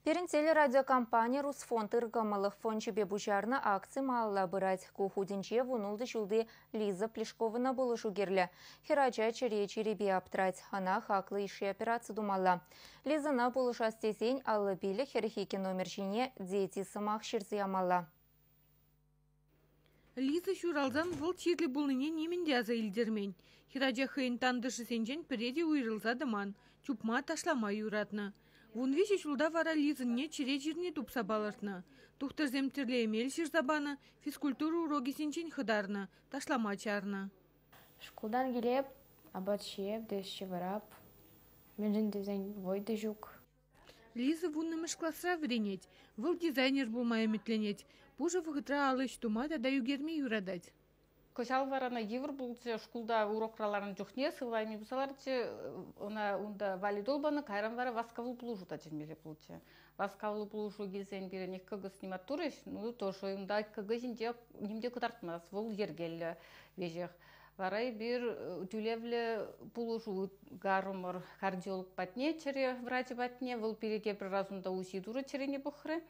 Пирӗн телерадиокомпани «Русфонд» ыркӑмӑллӑх фончӗпе пуҫарнӑ акци малалла пырать. Ку хутӗнче вунултӑ ҫулти Лиза Плешкована пулӑшу кирлӗ. Хӗрача чӗре чирӗпе аптрать, ӑна хаклӑ йышши операци тумалла. Лизӑна пулӑшас тесен аллӑ пилӗк хӗрӗхе номер ҫине «Дети» сӑмах ҫырса ямалла. Лиза ҫуралсан вӑл чирлӗ пулнине нимӗн те аса илтермен, хӗрача хӑйӗн тантӑшӗсенчен пӗре те уйрӑлса тӑман, чупма, ташлама юратнӑ. Вун виҫӗ ҫулта вара Лизӑнне чӗре чирне тупса палӑртнӑ. Тухтӑрсем тӗрлӗ эмел ҫырса панӑ, физкультура урокӗсенчен хӑтарнӑ, ташлама чарнӑ. Шкултан килеп, апат ҫиеп те ҫывӑрап. Мӗншӗн тесен вӑй те ҫук. Лиза вуннӑмӗш класра вӗренет, вӑл дизайнер пулма ӗмӗтленет, пушӑ вӑхӑтра ал ӗҫ тума тата ӳкерме юратать. Кӑҫал вара ӑна йывӑр пулчӗ. Шкулта урокра ларнӑ чухне сывлайми пуса ларчӗ. Ӑна унта валидол панӑ, кайран вара васкавлӑ пулӑшу та чӗнмелле пулчӗ. Васкавлӑ пулӑшу килсен пирӗн ик кӑкӑс немат турӗҫ, ну тоже унта кӑкӑ ҫинче ним те кӑтартмасть, вӑл йӗркеллӗ веҫех. Вара эпир тӳлевлӗ пулӑшу ытгарӑмӑр. Кардиолог патне, чӗре врачӗ патне. Вӑл пире тепӗр раз унта УЗИ турӗ, чӗрене пӑхрӗ.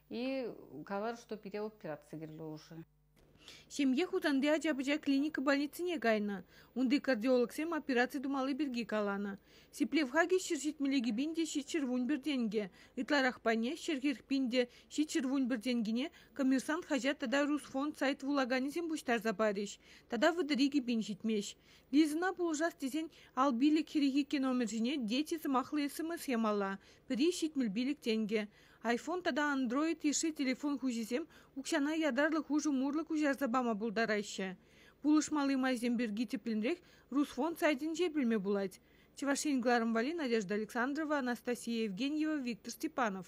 И калар, что пире операци кирлӗ уже. Ҫемье Хусанти ача-пӑча клиника больницине кайнӑ. Унти кардиологсем операци тумалли пирки каланӑ. Сиплев хакӗ ҫӗр ҫитмӗле кӗпин те ҫичҫӗр вун пӗр тенкӗ, ытларах пайне ҫӗрхех пин те ҫичҫӗр вун пӗр тенкӗне Коммерсант хаҫат тата Русфонд сайт вулаканӗсем пуҫтарса парӗҫ тата вӑтӑри кӗпин ҫитмест. Лизӑна пулӑшас тесен ал пилӗк хӗрехи номер ҫине дети сӑмахлӑ смс ямалла, пӗри ҫитмӗл пилӗк тенкӗ. iPhone тата Android йышши телефон хуҫисем укҫана ятарлӑ хушӑ мурлӑ куҫарса пама пултараҫҫӗ. Пулӑшмалли майсем пирки тӗплӗнрех Русфонд сайтӗнче пӗлме пулать. Чӑваш Ен кӑларӑм валли Надежда Александрова, Анастасия Евгеньева, Виктор Степанов.